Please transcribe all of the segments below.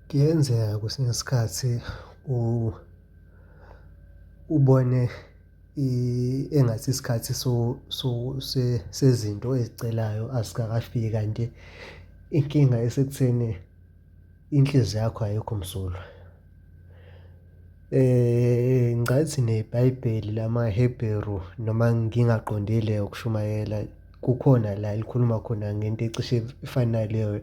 Kuyenzeka kwesinye isikhathi ubone engathi isikhathi sezinto oyicelayo asikakafiki kanti inkinga isekutheni inhliziyo yakho ayikho msulwa. Ngicathi nebhayibheli lamaHebheru noma ngingaqondile ukushumayela kukhona la elikhuluma khona ngento ecishe ifane naleyo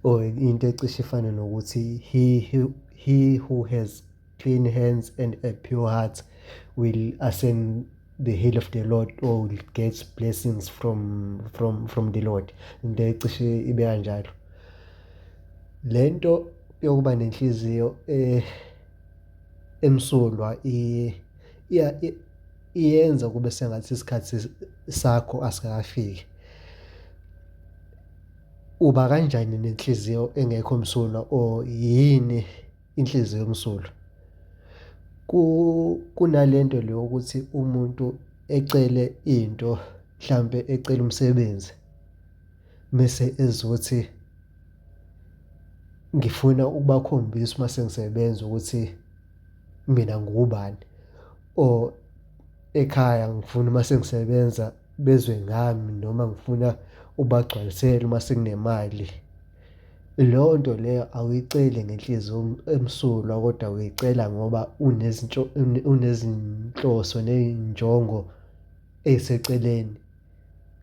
or into ecishe ifane nokuthi, he who, he who has clean hands and a pure heart will ascend. the hill of the lord or gets blessings from from from the lord into ecishe ibe kanjalo le nto yokuba nenhliziyo eh emsulwa iyenza kube sengathi isikhathi sakho asikakafiki uba kanjani nenhliziyo engekho msulwa or yini inhliziyo yomsulu kunalento le ukuthi umuntu ecele into mhlampe ecela umsebenzi mese ezothi ngifuna ukubakhombisa uma sengisebenza ukuthi mina ngubani or ekhaya ngifuna uma sengisebenza bezwe ngami noma ngifuna ubagcwalisele uma sekunemali. Leyo nto leyo awuyiceli ngenhliziyo emsulwa kodwa uyicela ngoba unezinhloso ney'njongo ey'seceleni.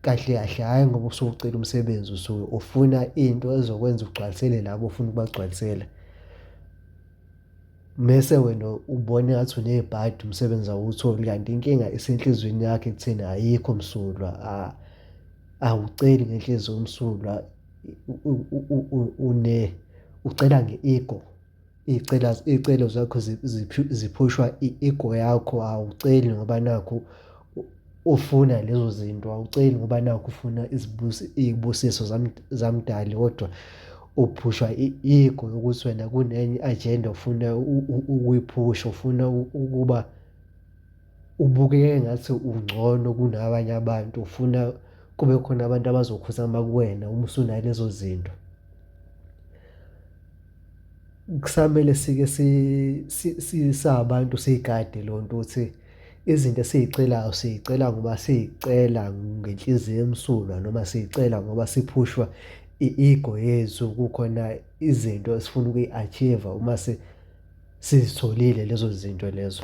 Kahle kahle hhayi ngoba usuke ucela umsebenzi usuke ufuna into ezokwenza ugcwalisele labo ofuna ukubagcwalisela. Mese wena ubona engathi unebhadi umsebenzi awuwutholi kanti inkinga isenhlizweni yakho ekutheni ayikho msulwa awuceli ngenhliziyo emsulwa. une ucela nge-ego iy'cela iy'celo zakho ziphushwa i-ego yakho awuceli ngoba nakhu ufuna lezo zinto awuceli ngoba nakhu ufuna izibusi iy'busiso zamdali kodwa uphushwa i-ego yokuthi wena kunenye i-ajenda ofuna ukuyiphusha ufuna ukuba. Ubukeka engathi ungcono kunabanye abantu ufuna kube khona abantu abazokhuzama kuwena uma usunayo lezo zinto. Kusamele sike sabantu siyigade leyo nto ukuthi izinto esiy'celayo siy'cela ngoba siy'cela ngenhliziyo emsulwa noma siy'cela ngoba siphushwa i-ego yethu kukhona izinto esifuna ukuyi-achieve-a uma . sizitholile lezo zinto lezo.